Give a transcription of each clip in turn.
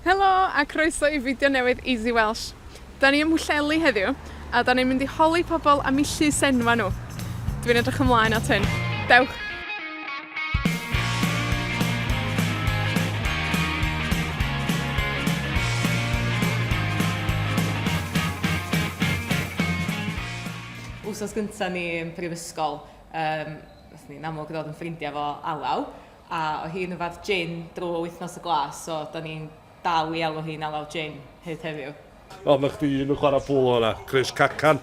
Helo, a croeso i fideo newydd Easy Welsh. 'Dan ni ym Mhwllheli heddiw, a 'dan ni'n mynd i holi pobol am 'u llys enwa' nw. Dwi'n edrych ymlaen at hyn. Dewch! Wsos gynta ni yn prifysgol, yym, nathon ni yn amlwg ddod yn ffrindia 'fo Alaw. A oedd hi'n yfed jin drwy wythnos y glas, so 'dan ni'n dal i alw hi'n Alaw Jin hyd heddiw. Nawr mae chdi un yn chwarae polo yna, Chris Cacan,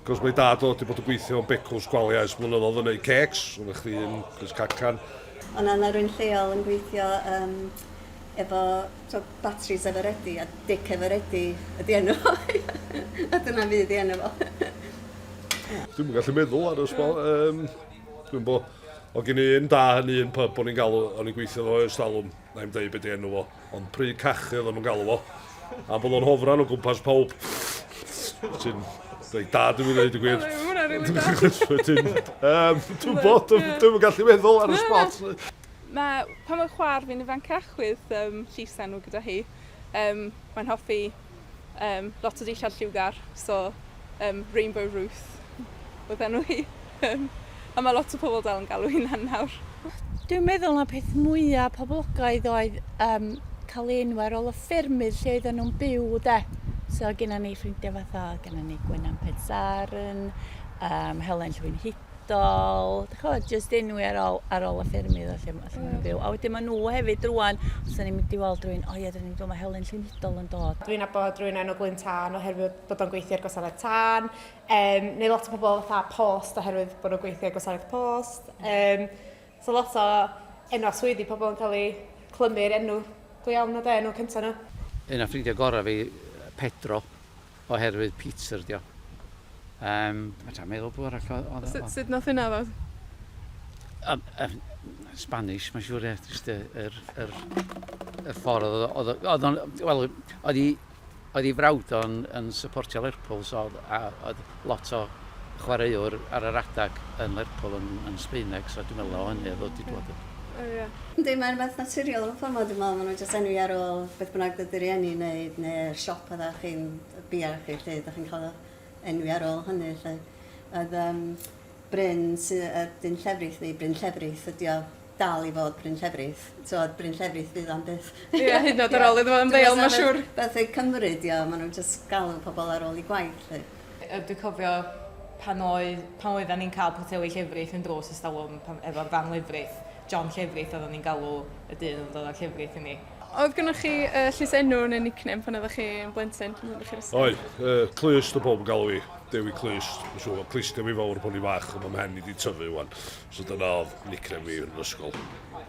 cos mae dad o 'di bod yn gweithio yn becws gwaliau ers blynyddodd yn neud cêcs, so mae chdi un Chris Cacan. Ond na ma' rywun lleol yn gweithio yym efo t'o' batris Eveready a Dic Eveready ydi enw fo a dyna fydd 'i enw fo. Dwi'm yn gallu meddwl ar y sbo- yym dwi'm bo'. O gyn y un da yn un pyb o'n i'n galw, o'n i'n gweithio fo ers talwm, na i'm deud beth di enw fo, ond pry cachu oedd o'n galw fo, a bod o'n hofran o gwmpas pawb. Ti'n dweud da dwi'n mynd i ddweud y gwir. Wedyn, um, dwi'n bod, dwi'n gallu meddwl ar y spot. Mae pan mae chwar fi'n ifancach with um, llisa nhw gyda hi, um, mae'n hoffi um, lot o dillad lliwgar, so um, Rainbow Ruth oedd enw hi. Um, a mae lot o pobl dal yn galw hynna'n nawr. Dwi'n meddwl na peth mwyaf poblogaidd oedd um, cael ei enw ar ôl y ffermydd lle oedden nhw'n byw de. So gyda ni ffrindiau fatha, gyda ni Gwenan Pensaren, um, Helen Llwyn ysbrydol, dych chimod, jyst enwi ar ôl, ar ôl y ffermydd a lle, lle maen nhw'n byw. A wedyn maen nhw hefyd rwan, os ni'n mynd i weld rhywun, o ie, dyn ni'n dod, mae Helen Llwynhidol yn dod. Dwi'n abod rhywun enw Glyn Tân oherwydd bod o'n gweithio ar gwasanaeth tân, um, neu lot o pobl fatha post oherwydd bod nhw'n gweithio ar gwasanaeth post. Um, so lot o enw a swyddi pobl yn cael ei clymu'r enw go iawn o de, enw cyntaf nhw. Un o ffrindiau gorau fi, Pedro, Oherwydd Peter 'di o. Yym, fedrai'm meddwl pw arall oedd oedd o. Sut sut nath hynna ddod? Yym yym Spanish mae'n siŵr ie jyst y yr yr y ffordd oedd o oedd o oedd o'n wel oedd i oedd i frawd o'n yn supportio Lerpwl so oedd a oedd lot o chwaraewr ar yr adeg yn Lerpwl yn yn Sbaeneg so dwi'n meddwl o hynny o'dd o 'di dŵad o. O ia. Yndi mae'n beth naturiol efo plymod dwi'n meddwl ma' nhw'n jyst enwi ar ôl beth bynnag fydd dy rieni yn neud ne' yr siop odda chi'n bia chi 'lly dach chi'n ca'l y enwi ar ôl hynny 'lly. Oedd yym Bryn sy yy dyn llefrith neu Bryn Llefrith ydi o. dal i fod Bryn Llefrith. T'od Bryn Llefrith fydd am byth. Ie hyd yn o'd ar ôl iddo fo ymddeol ma' siŵr. Beth yw Cymru 'di o ma' nw'n jyst galw pobol ar ôl 'u gwaith 'lly. Yy dwi cofio pan oedd pan oeddan ni'n ca'l poteli llefrith yn drws ers talwm pan efo'r fam lefrith John Llefrith oddon ni'n galw y dyn odd yn dod â'r llefrith i ni. Oedd gynnoch chi yy llysenw ne' nickname pan oddach chi'n blentyn pan oddach chi'r ysgol? Oedd yy Clust odd powb yn galw fi. Dewi Clust. Dwi'n siŵr bo' clust Dewi Fowr pan o'n i'n fach on' ma' mhen i 'di tyfu ŵan. So dyna oedd nickname fi yn ysgol.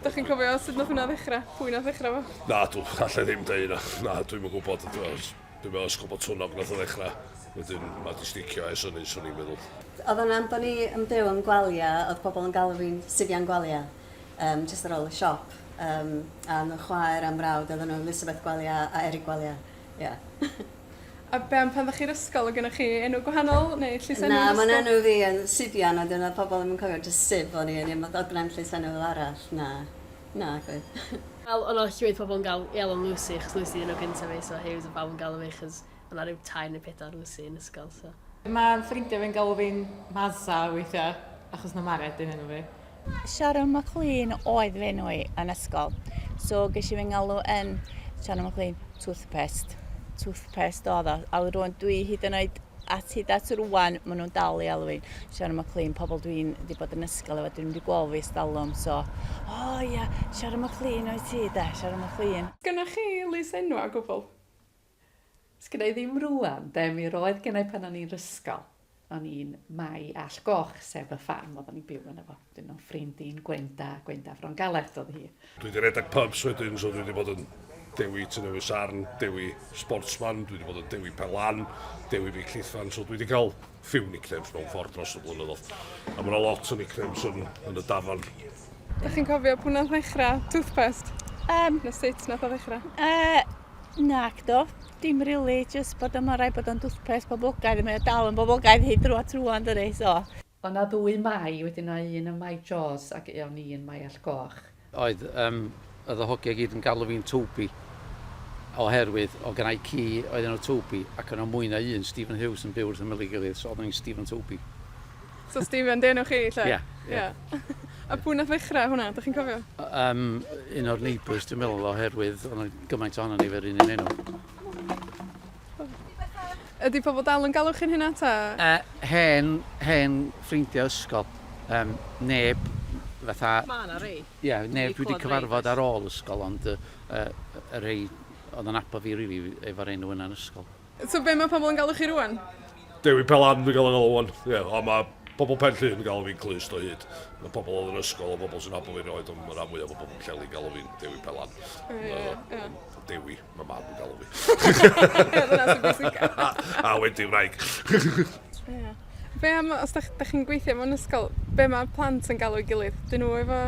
Dych chi'n cofio sut nath hwnna ddechrau? Pwy nath ddechrau fo? Na, dw, allai ddim dweud na. Na, dwi'n yn gwybod. Dwi'n meddwl ysgol bod twnog nath o ddechrau. Wedyn, mae di sticio ers hynny, swn i'n meddwl. Oedd o'n am bod ni yn byw yn Gwalia, oedd pobl yn galw fi'n Sifian Gwalia, um, just ar ôl y siop. Um, a nhw chwaer am frawd, oedden nhw Elizabeth Gwalia a Eric Gwalia. Yeah. A be' am pan 'dach chi'r ysgol o' gynnoch chi enw gwahanol neu llysenw yn ysgol? Na ma'n enw fi yn Sibian a 'dyn o'dd pobol ddim yn cofio jyst Sib o'n i yn i'm o'dd gne'm llysenw fel arall na nagwydd. Wel o' 'na llwyth pobol yn galw i alw'n Lucy achos Lucy 'di enw gynta fi so Huws o' bawb yn galw fi achos o' 'na ryw tair ne' pedwar Lucy yn ysgol so. Ma' ffrindia fi'n galw fi'n Masa weithia achos ma' Mared yn enw fi. Sharon McLean oedd fy enw i yn ysgol. So ges i fy ngalw yn Sharon McLean Toothpaste. Toothpaste oedd o. A rwan dwi hyd yn oed at hyd at rwan, maen nhw'n dal i alw i'n Sharon McLean, pobl dwi'n wedi bod yn ysgol efo, dwi'n wedi gweld fi stalwm, so, o oh, ia, yeah, Sharon McLean o'i ti, da, Sharon McLean. Sgynnoch chi lys enw a gwbl? Sgynna i ddim rŵan de, mi roedd gennai pan o'n i'n rysgol. O'n i'n Mai All Goch, sef y ffarm oedden ni'n byw yna fo. Dyn o'n ffrind i'n Gwenda, Gwenda Fron Galert oedd hi. Dwi wedi rhedeg pubs wedyn, so dwi wedi bod yn Dewi Tŷ Newydd Sarn, Dewi Sportsman, dwi wedi bod yn Dewi Pen Lan, Dewi Beic Llithfan, so dwi wedi cael few nicknames mewn ffordd dros y blynyddoedd. A mae yna lot o nicknames yn, yn y dafan. Ydych chi'n cofio pwy nath ddechrau toothpaste? Um, na sut nath o ddechrau? Uh, na, do. Dim rili, really, jyst bod yma rai bod o'n toothpaste boblogaidd, mae o dal yn boblogaidd hyd drwa trwa yn dydi, so. O na ddwy mai, wedyn na un yn mai Jaws ac eon ni yn mai Allgoch. Oedd, yym, oedd y hogia i gyd yn galw fi'n Toby, oherwydd oedd gen i ci oedd enw Toby, ac o' 'na mwy na un Stephen Hughes yn byw wrth ymyl ei gilydd, so oedden ni'n Stephen Toby. So Stephen 'di enw chi 'lly? Ia, ia. Ia. A pwy nath ddechra hwnna, 'dach chi'n cofio? O- yym, un o'r neighbours dwi'n meddwl, oherwydd o' 'na gymaint ohonon ni efo'r un un enw. Ydi pobl dal yn galw chi'n hynna ta? Yy hen hen ffrindia ysgol yym neb fatha... Ma' 'na rei. Ie neb dwi 'di cyfarfod ar ôl ysgol ond yy yy y rhei o'dd yn nabod fi rili efo'r enw yna yn ysgol. So be' ma' pobl yn galw chi rŵan? Dewi Pelan dwi'n ga'l 'yn galw ŵan. Ie a ma' pobl Pen Llŷn yn galw fi'n Clust o hyd. Ma' pobl o'dd yn ysgol a bobl sy'n nabod fi erioed on' ma' ran fwya o bobl Pwllheli'n galw fi'n Dewi Pelan. Ie ie. Yy Dewi. Mae mab yn galw fi. A wedi wraig. Ie. Be' am os 'dach, 'dach chi'n gweithio mewn ysgol, be' ma' plant yn galw'i gilydd? 'Dyn nhw efo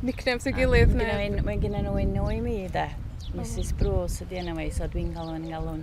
nicknames ei gilydd neu... Mae gynno un, mae gynno nhw un nwy mi 'de. Misus Bruce ydi enw hi, so dwi'n galw yn ngalw 'n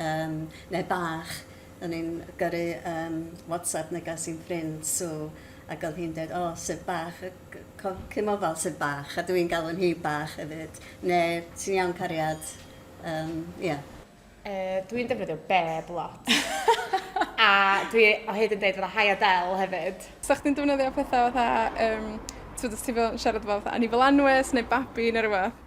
Yym neu bach o'n i'n gyrru yym whatsapp negas i'n ffrind Sue ac o'dd hi'n deud o Syb bach yy c- co- cimo fel Syb bach a dw i'n galw hi bach efyd neu ti'n iawn cariad yym ia. Yy dw i'n defnyddio beb lot a dw i o hyd yn deud fatha hi Adele hefyd. Sa chdi'n defnyddio petha fatha yym t'mod os ti fel yn siarad efo fatha Anifail Anwes neu babi ne' rwbath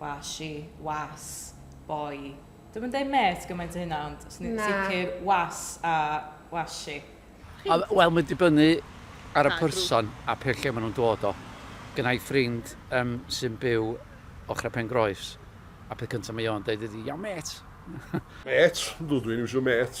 Was she. Was. Boy. Dwi'm yn deud mêt gymaint a hynna ond swn i'n sicr was a was she. Wel mae'n dibynnu ar y person a pe lle maen nhw'n dod o. Gynna i ffrind yym sy'n byw ochrau Pen Groes a peth cyntaf mae o'n deud ydy 'Iawn mêt'. Mêt? Ydw, dwi'n iwsio mêt.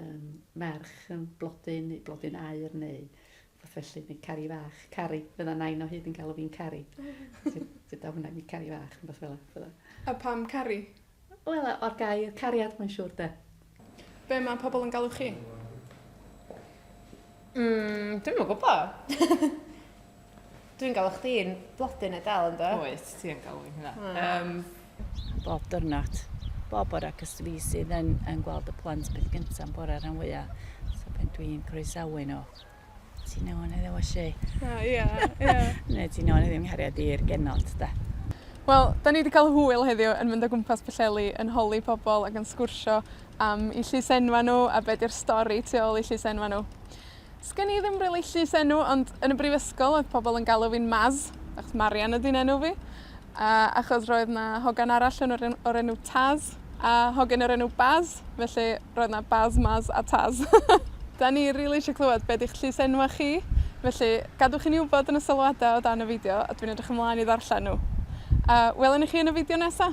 um, merch yn blodyn, neu blodyn air, neu fath felly, neu cari fach, cari. Fydda nain o hyd yn galw fi'n cari. Dyda hwnna, mi cari fach, yn fath fel yna. A pam cari? Wel, o'r gair cariad, mae'n siŵr, de. Be mae pobl yn galw chi? Mm, dwi'n mwyn gwybod. Dwi'n galw chdi'n blodyn neu dal yn do? Wyt, ti yn galw i'n hynna. Ah. Um, bob dyrnod, bob o'r agos fi sydd yn, yn gweld y plant beth gyntaf yn bore rhan fwyaf. So pen dwi'n croesawu nhw. Ti'n iawn heddiw, Ashi? O, ia, ia. Neu ti'n iawn heddiw nghariad i'r genod, da. Wel, da ni wedi cael hwyl heddiw yn mynd o gwmpas Pwllheli, yn holi pobl ac yn sgwrsio am 'u llys enwa' nhw a be' 'di'r stori tu ôl i llys enwa' nhw. 'Sgen i ddim rili llys enw, ond yn y brifysgol odd pobol yn galw fi'n Maz, achos Marian ydi 'nenw fi, a achos roedd 'na hogan arall yn yr en- o'r enw Taz, a hogyn o'r enw Baz, felly, roedd 'na Baz, Maz a Taz. 'Dan ni rili isho clywed be' 'di'ch llys enwa' chi, felly, gadwch i ni wbod yn y sylwada o dan y fideo, a dwi'n edrych ymlaen i ddarllen nw. A, welwn ni chi yn y fideo nesa!